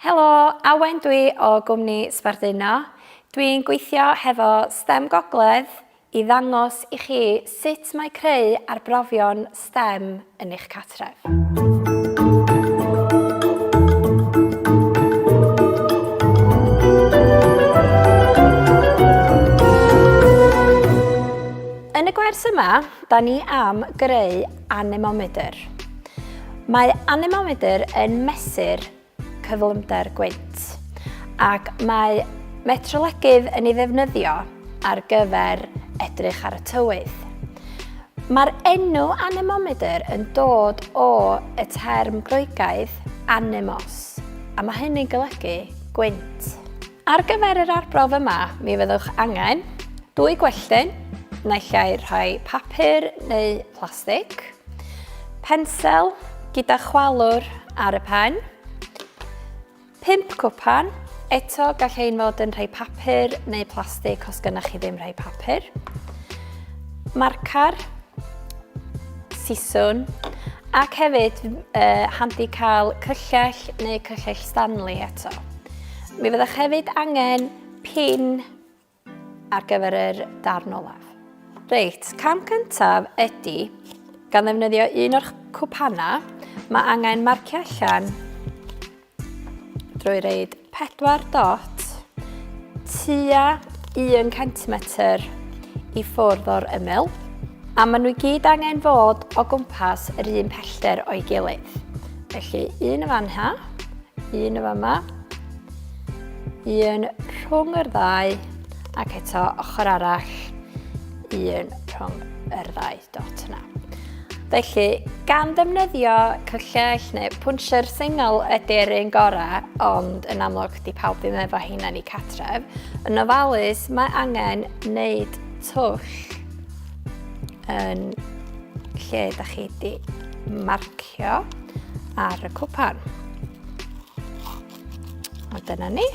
Helo, Awen dwi o gwmni Sbarduno. Dwi'n gweithio hefo stem Gogledd i ddangos i chi sut mae creu arbrofion stem yn eich cartref. Yn y gwers yma, da ni am greu Anemomedr. Mae anemomedr yn mesur cyflymder gwynt ac mae metrolegydd yn ei ddefnyddio ar gyfer edrych ar y tywydd. Mae'r enw anemomedr yn dod o y term Groegaidd anemos, a mae hynny'n golygu gwynt. Ar gyfer yr arbrawf yma, mi fyddwch angen dwy gwelltyn, naill ai rhai papur neu plastig, pensel gyda chwalwr ar y pen, pump cwpan, eto gall ein fod yn rhai papur neu plastig os gynnwch chi ddim rhai papur, marcar, siswn, ac hefyd uh, handi cael cyllell neu cyllell Stanley eto. Mi fyddech hefyd angen pin ar gyfer yr darn olaf. Reit, cam cyntaf ydy, gan ddefnyddio un o'r cwpanau, mae angen marcio allan drwy reid 4 dot tua 1 cm i ffwrdd o'r ymyl, a maen nhw i gyd angen fod o gwmpas yr un pellter o'i gilydd. Felly, un y fan ha, un y fan ma, un rhwng yr ddau, ac eto ochr arall, un rhwng yr ddau dot yna. Felly, gan ddefnyddio cyllell neu pwnsher sengl ydy'r un gorau, ond yn amlwg di pawb ddim efo hyn yn ei catref, yn ofalus mae angen wneud twll yn lle da chi di marcio ar y cwpan. A dyna ni.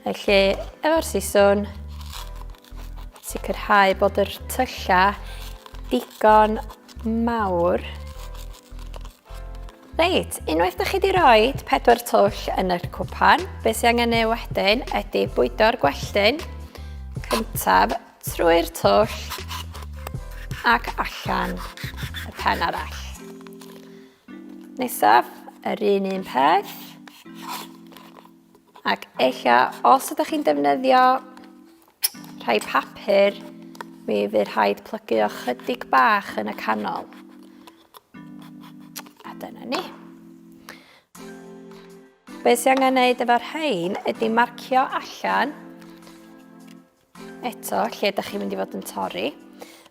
Felly, efo'r siswn, sicrhau bod yr tyllau digon mawr. Reit, unwaith da chi di roi pedwar twll yn yr cwpan, beth sy'n angen ei wedyn ydy bwydo'r gwelltyn cyntaf Trwy'r twll ac allan y pen arall. Nesaf, yr un un peth. Ac eich os ydych chi'n defnyddio rhai papur, mi fydd rhaid plygu o chydig bach yn y canol. A dyna ni. Be sy'n angen gwneud efo'r rhain ydy marcio allan Eto, lle ydych chi'n mynd i fod yn torri.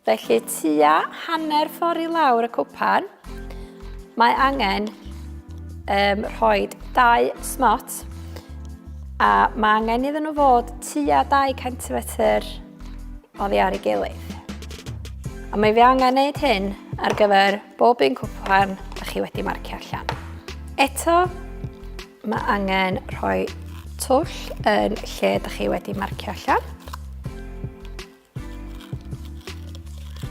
Felly, tua hanner ffordd i lawr y cwpan, mae angen um, rhoi dau smot a mae angen iddyn nhw fod tua 2 cm o ddi ar ei gilydd. A mae fi angen gwneud hyn ar gyfer bob un cwpan ydych chi wedi marcio allan. Eto, Mae angen rhoi twll yn lle ydych chi wedi marcio allan.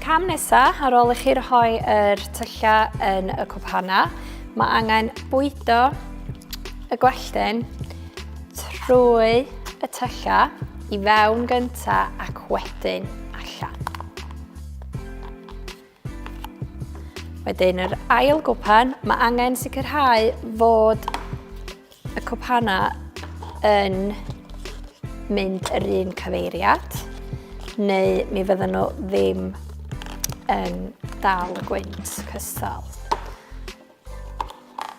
Cam nesaf, ar ôl i chi rhoi yr tyllau yn y cwbhana, mae angen bwydo y gwelltyn trwy y tyllau i fewn gynta ac wedyn allan. Wedyn yr ail gwpan, mae angen sicrhau fod y cwpanau yn mynd yr un cyfeiriad, neu mi fydden nhw ddim yn dal y gwynt cystal.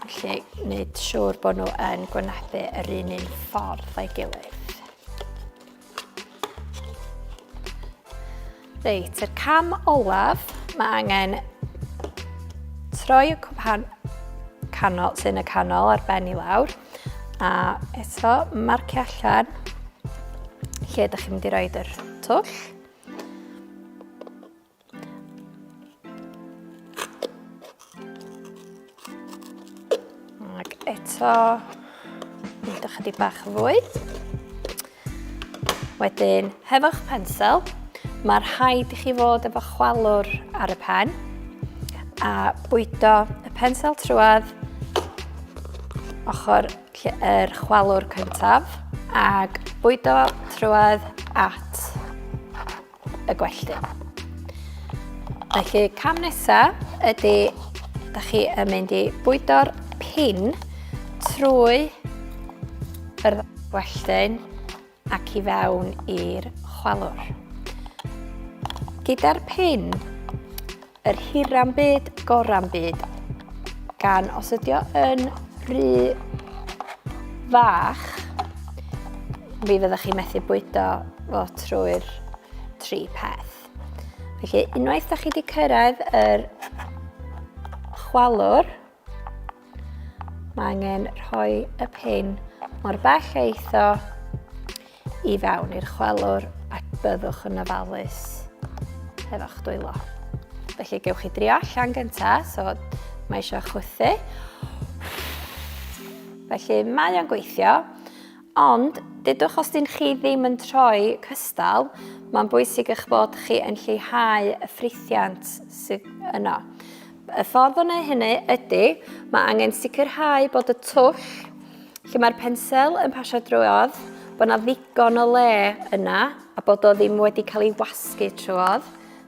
Felly, wneud siŵr bod nhw yn gwynebu yr un un ffordd o'i gilydd. Reit, yr cam olaf, mae angen troi y cwpan canol, sy'n y canol ar ben i lawr, a eto marcio allan lle ydych chi'n mynd i roed yr twll. Ac eto, mynd ychydig bach yn fwy. Wedyn, hefo'ch pensel, mae'r rhaid i chi fod efo chwalwr ar y pen a bwydo y pensel trwad ochr yr chwalwr cyntaf ac bwydo trwad at y gwelltu. Felly cam nesa ydy da chi yn mynd i bwydo'r pin trwy yr welltyn ac i fewn i'r chwalwr. Gyda'r pin Yr hira'n byd, gora'n byd. Gan os ydi o yn rhy fach, mi fyddwch chi methu bwydo fo trwy'r tri peth. Felly, unwaith da chi wedi cyrraedd yr chwalwr, Mae angen rhoi y pin mor bell a eitho i fewn i'r chwelwr ac byddwch yn ofalus efo'ch dwylo. Felly gewch chi drio allan gyntaf, so mae eisiau chwythu. Felly mae o'n gweithio, ond dydwch os dyn chi ddim yn troi cystal, mae'n bwysig eich bod chi yn lleihau y ffrithiant sydd yno. Y ffordd o wneud hynny ydy, mae angen sicrhau bod y twll lle mae'r pensel yn pasio drwodd, bod yna ddigon o le yna a bod o ddim wedi cael ei wasgu trwodd,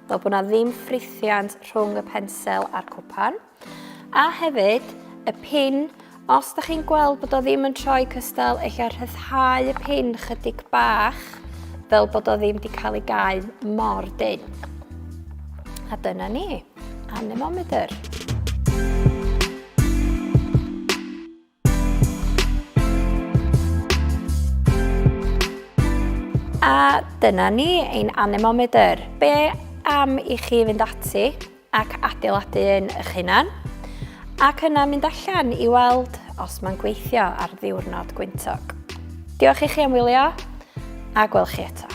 fel bod yna ddim ffrithiant rhwng y pensel a'r cwpan. A hefyd, y pin Os da chi'n gweld bod o ddim yn troi cystal, eich ar rhyddhau y pin chydig bach, fel bod o ddim wedi cael ei gau mor dyn. A dyna ni, anemometer. A dyna ni, ein anemometer. Be am i chi fynd ati ac adeiladu un eich hunan, ac yna mynd allan i weld os mae'n gweithio ar ddiwrnod gwyntog. Diolch i chi am wylio, a gwel chi eto.